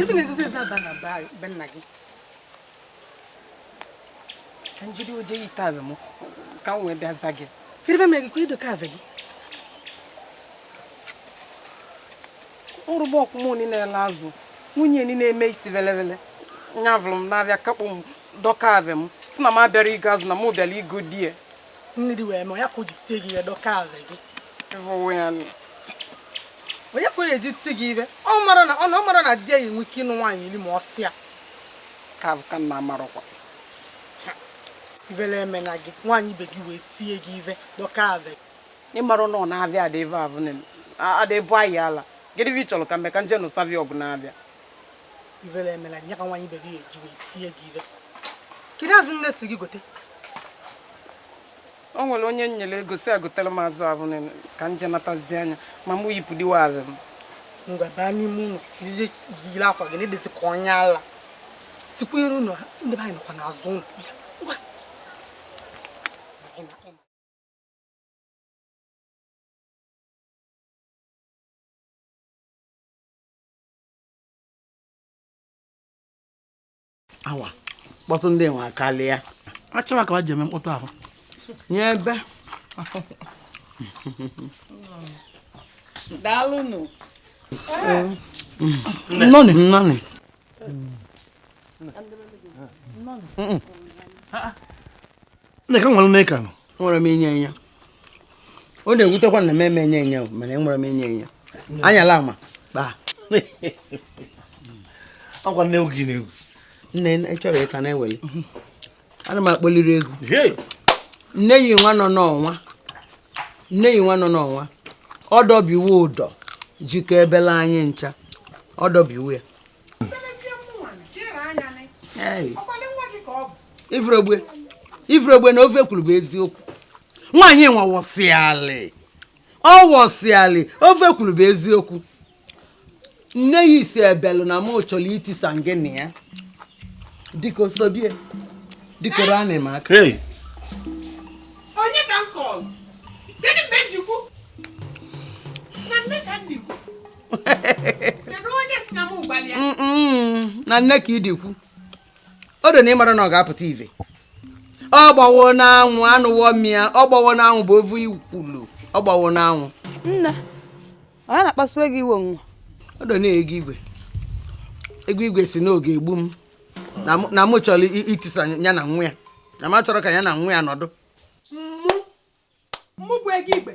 Ife na-ezizi ezi aba na be nna gị ka njiri oje yi taa m ka m wee bịa za gị ife mere gị ka ị dọka ave gị ụrụbọ ọkwụmụ ni na-ele azụ nwunye ni na-eme isi velevele nya vụrụ m n'avịa kakpụ m dọka ave m sị na m abịara igo azụ na m bịara igo di ya nne di wee mee ya ka o ji tie gị ive dọka ave gị onye ka o eji ti gị ive ọ mara na ọ na ọ mara na di ya enwe ike ịnụ nwaanyị iri ma ọ sịa ka ka nna amarụkwa ivele emena gị nwaanyị ibe gị wee tie gị ive dọka ave gị ịmara na ọ na-abịa ada ebe a bụ na ada ebe anyị ala gịnị bụ ị chọrọ ka mbe ka m je nụsabi ọgụ n'avịa ivele emela ya ka nwaanyị ibe gị eji wee tie gị ive kedu azụ nne sị gị gote o nwere onye nyere ego sị egotere m azụ abụ na ka m je natazi anya ma mụ yipụ diwa azụ m ngwa baa n'ime ụlọ ije yiri akwa gị na-edezi ka onye ala sikwa iru ụlọ ha ndị be anyị nọkwa n'azụ ụlọ awa kpọtụ ndị nwa karịa achọwa ka ha ji eme mkpọtụ ahụ nye ebe daalụnụ nnọọ nị nnọọ nị Nneka nwere n'ịka nọ enwere m inye enye ọ na-ewutekwa na m eme enye enye mana enwere m inye enye anyala ama kpaa akwa nne gị na-egwu nne ị chọrọ ịka na-eweli ana m akpọliri egwu nne yi nwa nọ n'ọnwa nne yi nwa nọ n'ọnwa ọdọbiwo udo jikọ ebela anyị ncha ọdọbiwo ya ifregbe na ife o kwuru bụ eziokwu nwaanyị nwa wọsịalị ọ wọsịalị ife o kwuru bụ eziokwu nne ya sị ebelu na mụ chọrọ itisa ngị na ya dịka osobie dịkoro anị m aka onye ka m kọrọ gịnị mgbe njikwu na Nneka m na-ekwu na nne ka idikwu ọ dọ na ị mara na ọ ga-apụta ive ọ gbawo n'anwụ anụwo mmịa ọ gbawo n'anwụ bụ ovu ikwulu ọ gbawo n'anwụ nne ọ ya na-akpasu gị iwe onwe ọ dọ na Egoigwe Egoigwe sị na ọ ga-egbu m na mụ chọrọ itisa ya na nwa ya na m achọrọ ka ya na nwa ya nọdụ mụ bụ Egoigwe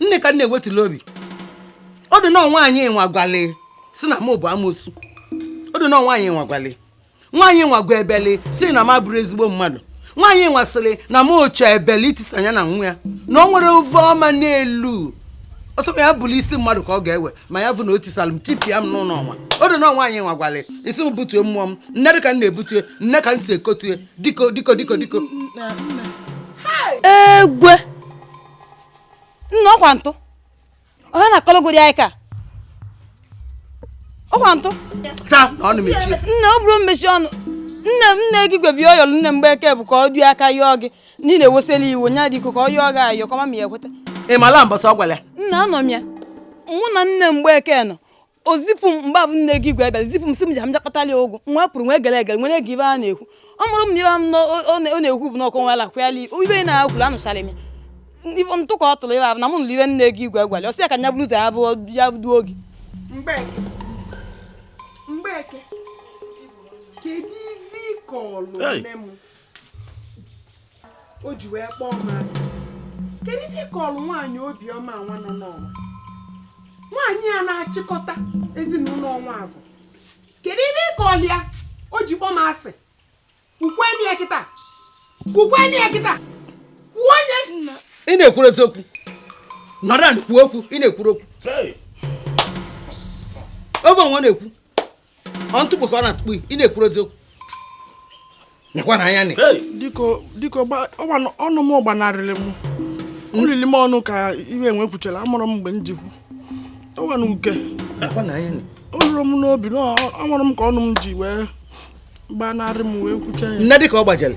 nne ka nne wetulu obi ọ dọ na ọ nwaanyị nwa gwale sị na m bụ amosu ọ dọ na ọ nwaanyị nwa gwale nwaanyị nwa gwa Ebele sị na m abụrọ ezigbo mmadụ nwaanyị nwa sịrị na m chọ Ebele itisa ya na nwa ya na o nwerọ ive ọma n'elu ọ sị ya bụrụ isi mmadụ ka ọ ga-ewe ma ya bụ na o tisara m tipịa m n'ụlọ ọnwa ọ dọ na ọ nwaanyị nwa gwale isi m butue mmụọ m nne dị ka m na-ebutue nne ka m si ekotue diko diko diko diko egwe nne ọkwa ntụ onye na-akọlọgodi anyị ka ọkwa ntụ nne ọ bụrọ mmechi ọnụ nne m nne Egoigwe bịa yọlụ nne Mgbeke bụ ka ọ dị aka yọọ gị niile wesịla iwe nya diko ka ọ yọọ gị ayọ kọma ma ya ekweta ị mala mbọsị ọ gwara ya nne anọ m ya mụ na nne Mgbeke nọ o zipụ m mgbe abụ nne Egoigwe abịa zipụ m sị m ji ha m bịa kpatara ya ụgụ m wee pụrụ wee gere egere nwere nụ ive a na-ekwu ọ mụrụ m na ibe m na ọ- ọ na- ọ na-ekwu bụ na ọkọ nwela kwụyala ibe ibe na-akwụrụ anụchara m ya ife ntụ ka ọ tụrụ ive abụ na mụ nụrụ ive nne Egoigwe gwara ya, ọ sị ya ka nya bụrụ ụzọ ya bụ ya duo oge Mgbeke Mgbeke kedu ife ị kọlụ Hey. nne m o ji wee kpọọ m asị kedu ihe m kọlụ nwaanyị obiọma nwa nọ n'ọnwa nwaanyị a na-achịkọta ezinụlọ ọnwa abụ kedu ihe m kọlụ ya o ji kpọọ m asị kwukwenụ ya kịta kwukwenụ ya kịta kwuo onye ị na-ekwurọ eziokwu nọrọ kwuo okwu ị na-ekwurọ okwu oge onwe na-ekwu ọ ntụkpo ka ọ na-atụkpo ị na-ekwurọ eziokwu nyekwa na anya diko ọnụ m gbanarịrị m olili m ọnụ ka iwe enwe kwuchara amarọ m mgbe m ji kwu ọwa na uke o lurọ m n'obi na amarọ m ka ọnụ m ji wee gbanarị m wee kwucha ya nne dịka ọ gbajere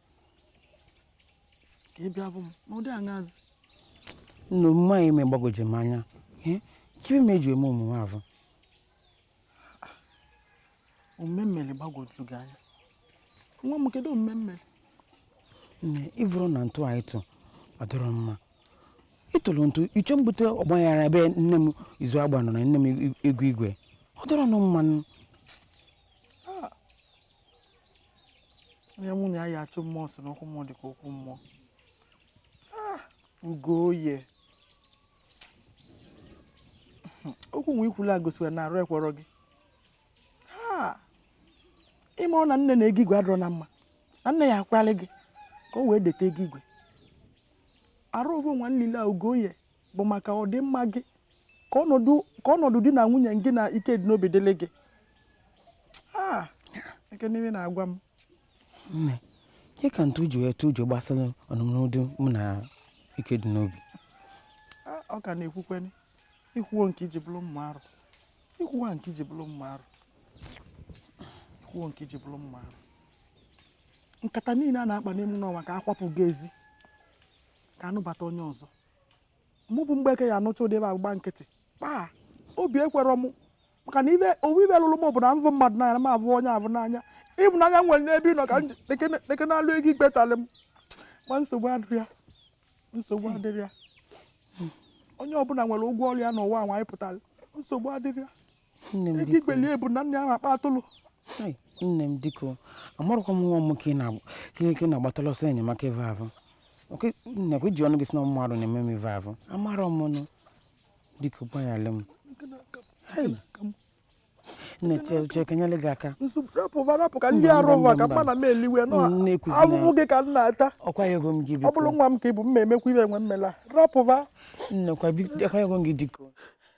ka ị bịa bụ m n'ụdị aṅazị na omume a ị me gbagwoju m anya ke ive ị ji wee me omume avụ omume m melụ gbagwojuru gị anya nwa m kedu omume m melụ nne ị vụrụ na ntụ a ị tụ ọ dịrọ mma ị tụrụ ntụ ị chọ ibute ọgbaghara ebe nne m Izuagba nọ na nne m Egoigwe ọ dịrọ nụ mma nụ onye mụ na ya ya achụ mmụọ si n'okwu mmụọ dị ka okwu mmụọ Ah, ugoye okwu nwa i kwulu a gosiri na arụ ekwerọ gị Ha! ị ma ọ na nne na ego igwe adịrọ na mma na nne ya akalị gị ka o wee deta ego igwe arụ ogo nwa nlile a ugoye bụ maka ọdịmma gị ka ọnọdụ ka ọnọdụ di na nwunye gị na ike dị n'obi dịlị gị Ah, eke n'ime na-agwa m nne ke ka ntu ji wee tụ ụjọ gbasara ọnụmnụdụ mụ na ike dị n'obi Ah, ọ ka na-ekwukwene ikwuo nke iji bụrụ mma arụ ikwuwa nke iji bụrụ mma arụ ikwuo nke iji bụrụ mma arụ nkata niile a na-akpa n'ime n'ọnwa ka akwapụ gị ezi ka anụbata onye ọzọ mụ bụ mgbeke ya-anụcha ụdị ive a gba nkịtị kpaa obi ekwerọ m maka na ive o wu ive lụrụ m bụ na m vụ mmadụ n'anya ma abụ onye a vụ n'anya ịvụnanya m nwere n'ebe ị nọ ka m deke na-alụ ego ikpe talị m ma nsogbu adịrị ya nsogbu adịrị ya onye ọbụla nwere ụgwọ ọrụ ya n'ụwa nwa anyị pụtara nsogbu adịrị ya ego ikpeli ebu na nne ahụ akpa atụlụ nne m diko amarụkwa m nwa m ka ị na-agbatala ọsọ enyemaka ebe ahụ nakwa i ji ọnụ gị si na mmadụ na-eme m ive ahụ amara m nụ dịka ụgbọnyala m na-eche ka nyere gị aka ahụhụ gị ka m na-ata ọkwa ego m gị ọ bụrụ nwa m ka ị bụ m na-emekwa ive enwe mmela rapụba nnekwa ego m gị dịka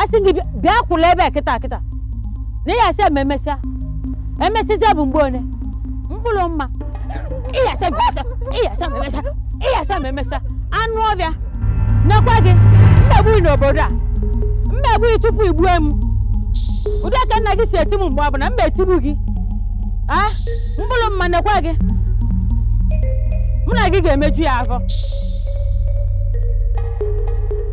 asị m gị bịa- bịa kwụlụ ebe a kịta kịta na ị ga-asị m emesịa emesịzịa bụ mgbe one mkpụlụmma ị ga-asị m emesịa anụ ọvịa nekwa gị m ga-egbu ị n'obodo a m ga-egbu ị tupu i gbue m ụdị aka nna gị si eti m mgbe ọbụna m etigbu gị a mkpụlụmma nekwa gị mụ na gị ga-emeju ya afọ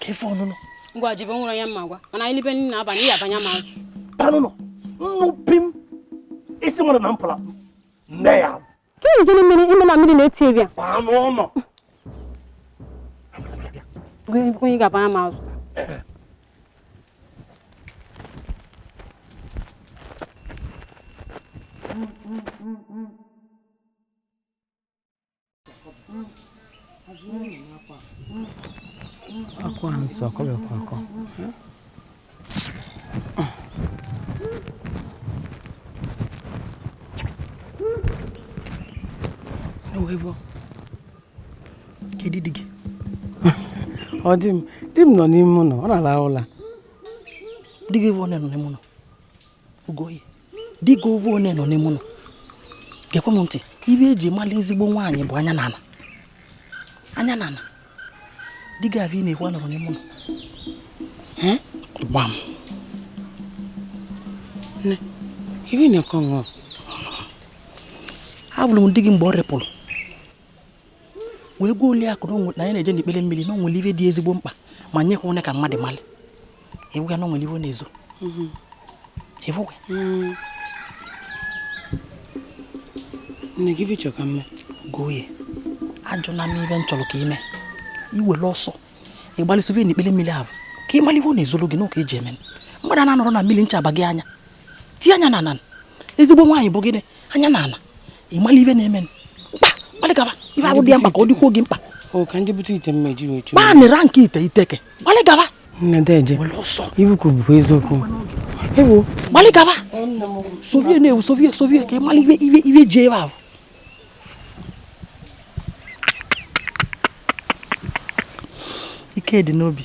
ka ife ọnụnụ ngwa jibe nwere onye m ma gwa m na anyị libe nri n'abalị ya abanye m azụ panụnụ nnụpi m isi nwere na mpụla nne ya ka ị jiri mmiri ime na mmiri na-eti ebia paa n'ụlọ onye ga-abanye m azụ akwa nsọ akọbịakwa akọ ewebo kedu di gị di m di m nọ n'ime ụnọ ọ na-alahụ ụla di gị bụ ọ nọ n'ime ụnọ ugoye di gị ọvụ onye nọ n'ime ụlọ gekwe m ntị ive eji mara ezigbo nwaanyị bụ anya n'ala anya n'ala di gị avụ ị na-ekwu anọrọ n'ime ụlọ gwa m ive ị na-ekọ ṅụọ avụrụ m di gị mgbe ọ repụrụ wee gwa oliakụ na ya na-eje n'ikpere mmiri na o nwere ife dị ezigbo mkpa ma nyekwa onye ka mmadụ mali ewu ya na o nwere ive ọ na-ezo mhm. efuwe mm. nne gị bichọ ka mma gụọ ya ajụla m ive m chọrọ ka i mee i were ọsọ ịgbalịsịrị n'ikpere mmiri ahụ ka ị mara ive ọ na-ezoro gị n'ụka eji eme mmadụ a na-anọrọ na mmiri ncha aba gị anya tie anya n'ala ezigbo nwaanyị bụ gịnị anya n'ala ị mala ive na-eme mkpa gbalị gaba ive avụ dị ya mkpa ka ọ dịkwuo gị mkpa gbanịra nke ite iteke gbalị gaba ibukwu bụkwa eziokwu gbalị gaba sovie na-ewu sovie sovie ka ị mala ive ive ive o ji ebe ahụ ikedinobi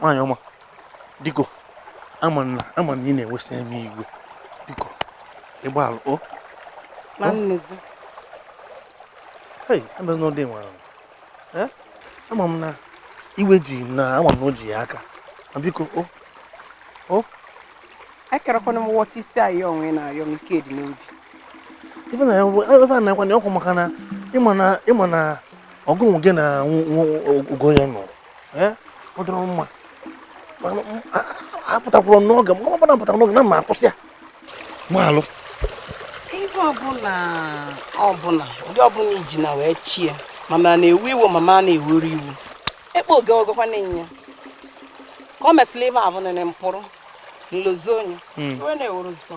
nwaanyị ọma biko ama m na ama m na ị na-ewesa m iwe biko ị gbaalụ o hei emezi n'ọdị nwara ama m na iwe ji na ama m na o ji gị aka ma biko o o ekerekwana m wọta isi ayọ onwe na-ayọ m ikedinobi ife na ife a na-ekwe na ọkwa maka na ị ma na ị ma na ọgụnwụ gị na ugoye nọ eh? ọ dịrọ mma apụtakwụrụ n'oge m ọbụla apụtara n'oge na ma akwụsị ya maalụ ife ọbụla ọbụla ụdị ọbụla i ji na wee chie mama na-ewu iwu mama na-ewuru iwu ekpe oge ogekwa na-enye ka ọ mesịrị ive avụ nene mpụrụ nlozi onye hmm. onye na-ewuru zụta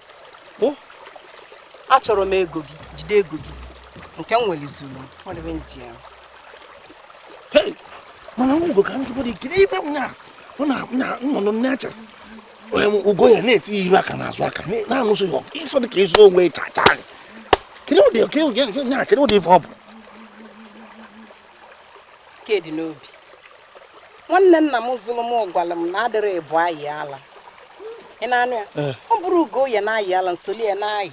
Oh. achọrọ m ego gị jide ego gị nke m nwere zuru ọdịbe m ji ya mana ugo ka m jụgodị kedu ife m na ọ na nnụnụ nne acha ugoye na-eti iru aka n'azụ aka na-anụsị ya ịsọ dị ka ịzụ onwe chacha kedu ụdị ife ọ bụ kedinobi nwanne nna m zụrụ m gwara m na adịrọ ịbụa ayị ala ị na-anụ ya eh. ọ bụrụ ugoye na-ayị ala m soli ya na-ayị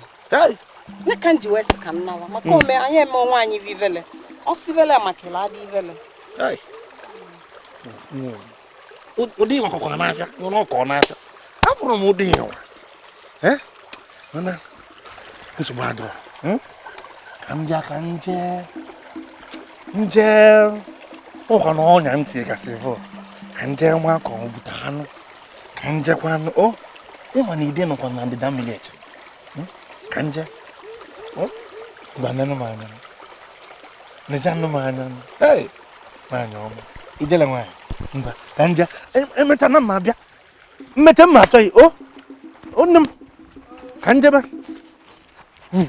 nya ka m ji wee sị ka m nawa maka hmm. ome anyị eme onwe anyị bụ ivele ọ sivele maka ịla adị ivele ụdị ihe ọkụkọ n'afịa nwere ọkọ n'afịa afụrụ m ụdị ihe mana nsogbu adịrọ hmm? ka m bịa ka nje nje ụkwa na ọnya m tinye gasị vọ ka nje nwa ka o bute anụ ka njekwanụ o ị ma na ide nọkwa na ndịda mmiri eche hmm? ka nje gbanenụ m anya nezianụ m anya nwaanyị ọma ijele nwaanyị mba ka nje emecha na mma abịa mmecha mma achọ gị o o nne m ka njebe hmm.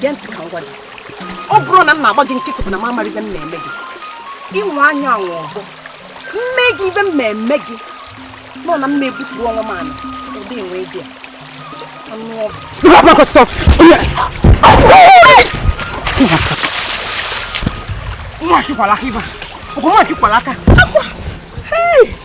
gee ntị ka m gwa gị ọ bụrụ na m na-agba gị nkịtị bụ na m amarọ ibe m ma-eme gị ị nwaa ya anwa ọzọ m mee gị ibe m ma-eme gị nọ na m na-ebutu onwe m anụ ụdị enwe gị anụ ọgụ Mwa kikwalaka iba. Uko mwa kikwalaka. Akwa. Hey.